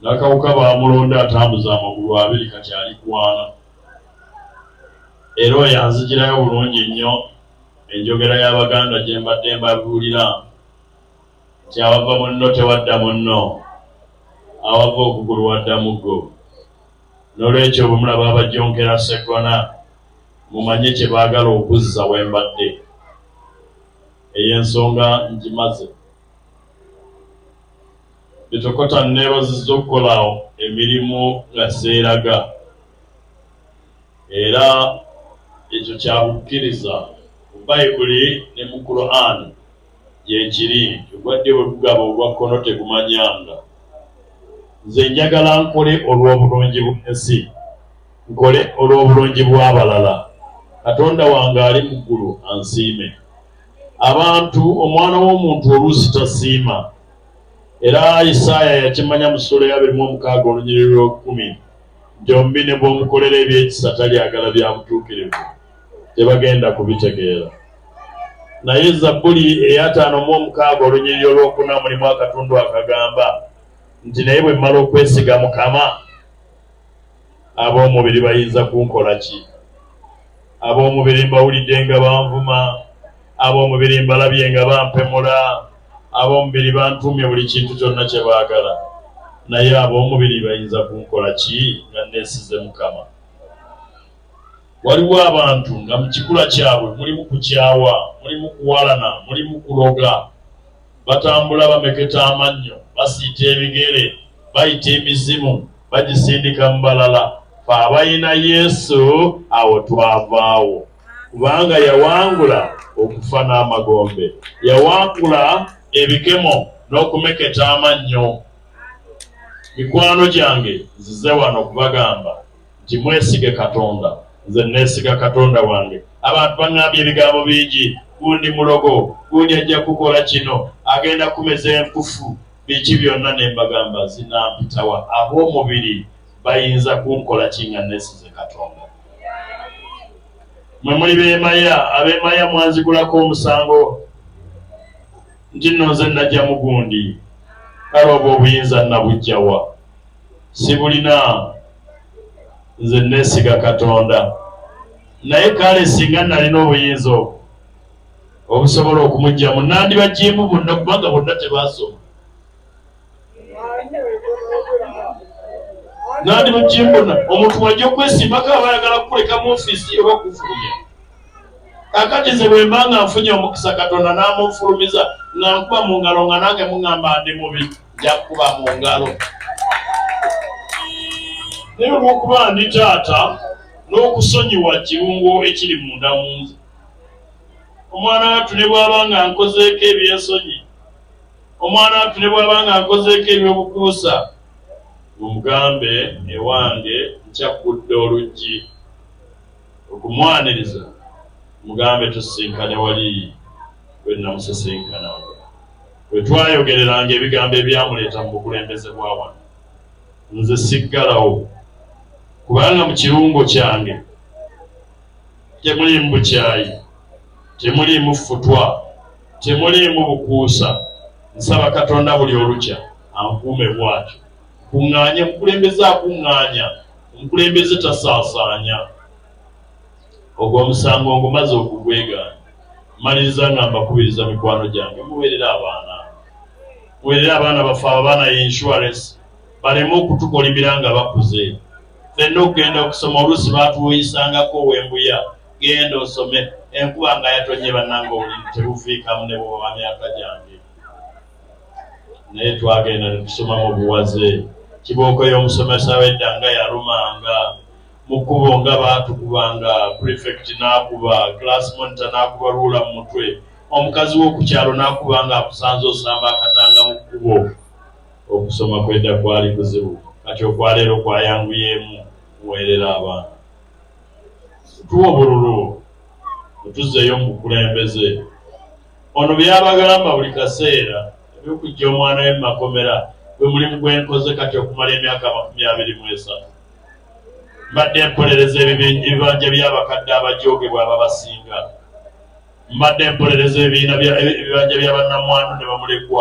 Nakawuka baamulonda atambuze amagulu abiri kati ali ku ana era oyo anzijirayo bulungi nnyo enjogera y'Abaganda gye mbadde mbabuulira nti awava munno tewadda munno, awava okugulu wadda muggo. N'olwekyo bwe mulaba abajjonkera Sseggona mumanye kye baagala okuzza we mbadde. Eyo ensonga ngimaze. Bitokota nneebazizza okukola emirimu nga seeraga era ekyo kya bukkiriza mu Bayibuli ne mu Kuraani gyekiri nti ogwa ddyo bwe gugaba ogwa kkono tegumanyanga. Nze njagala nkole olw'obulungi bw'ensi, nkole olw'obulungi bw'abalala, Katonda wange ali mu ggulu ansiime. Abantu, Omwana w'omuntu oluusi tasiima Era Isaaya yakimanya mu ssuula ey'abiri mu omukaaga olunyiriri lw'okukumi nti omubi ne bw'omukolera eby'ekisa talyagala bya butuukirivu, tebagenda kubitegeera. Naye Zabbuli ey'ataano mu omukaaga olunyiriri olw'okuna mulimu akatundu akagamba nti, Naye bwe mmala okwesiga Mukama, Ab'omubiri bayinza kunkola ki? Ab'omubiri mbawulidde nga banvuma. Ab'omubiri mbalabye nga bampemula. Ab'omubiri bantuumye buli kintu kyonna kye baagala. Naye ab'omubiri bayinza kunkola ki nga nneesize Mukama? Waliwo abantu nga mu kikula kyabwe mulimu kukyawa, mulimu kuwalana, mulimu kuloga. Batambula bameketa amannyo, basiita ebigere, bayita emizimu, bagisindika mu balala. Ffe abalina Yesu, awo twavaawo. Kubanga yawangula okufa n'amagombe. Yawangula ebikemo n'okumeketa amannyo. Mikwano gyange, nzize wano kubagamba. nti mwesige Katonda nze nneesiga Katonda wange. Abantu bang'ambye ebigambo bingi, gundi mulogo, gundi ajja kukola kino, agenda kumeza enkufu, biki byonna. Ne mbagamba zinampitawa, ab'omubiri bayinza kunkola ki nga nneesize Katonda? Mwe muli beemaya, abeemaya mwanzigulako omusango nti nno nze najja mu gundi, kale obwo obuyinza nnabuggya wa? sibulina nze nesiga katonda naye kale singa nalina obuyinza obwo obusobola okumugyamu nandibajimu bonna kubanga bonna tebasoma nandi mujimbona omuntu waja okwesimbako aba ayagala kukuleka mu ofisi oba kufulumya kakati nze bwemba nga nfunye omukisa katonda namunfulumiza nga nkuba mu ngalo nga nange muŋamba ndi mubi njakuba mu ngalo naye olwokuba ndi taata n'okusonyiwa kirungo ekiri munda mu nze omwana wattu ne bwaba nga nkozeeko ebyensonyi omwana wattu ne bwaba nga nkozeeko ebyobukuusa omugambe ewange nkyakudde oluggi okumwaniriza mugambe tusisinkane wali bwe namusisinkana We twayogereranga ebigambo ebyamuleeta mu bukulembeze bwa wano, nze siggalawo kubanga mu kirungo kyange temuliimu bukyayi, temuliimu ffutwa, temuliimu bukuusa. Nsaba Katonda buli olukya ankuume bw'atyo. Nkuŋŋaanye, omukulembeze akuŋŋaanya, omukulembeze tasaasaanya. Ogwo omusango ngumaze okugwegaana. Mmaliriza nga mbakubiriza mikwano gyange muweerere abaana. Muweerere abaana baffe abo abaana ye insurance baleme okutukolimira nga bakuze. Ffenna okugenda okusoma oluusi baatuwuyisangako Wembuya genda osome enkuba nga yatonnye bannange obuliri tebuviikamu ne bwoba wa myaka gyange naye twagenda ne tusoma mu buwaze. Kibooko y'omusomesa w'edda nga yalumanga. mu kkubo nga baatukubanga, prefect n'akuba, class monitor n'akuba ruler mu mutwe, omukazi w'oku kyalo n'akuba ng'akusanze osamba akatanga mu kkubo. Okusoma kw'edda kwali kuzibu, kati okwa leero kwayanguyeemu, muweerere abaana. Mutuwe obululu, mutuzzeeyo mu bukulembeze. Ono by'abagamba buli kaseera, eby'okuggya omwana we mu makomera gwe mulimu gwe nkoze kati okumala emyaka amakumi abiri mu esatu. Mbadde mpolereza ebibanja by'abakadde abajoogebwa ababasinga. Mbadde mpolereza ebibiina ebibanja bya bannamwandu ne bamulekwa.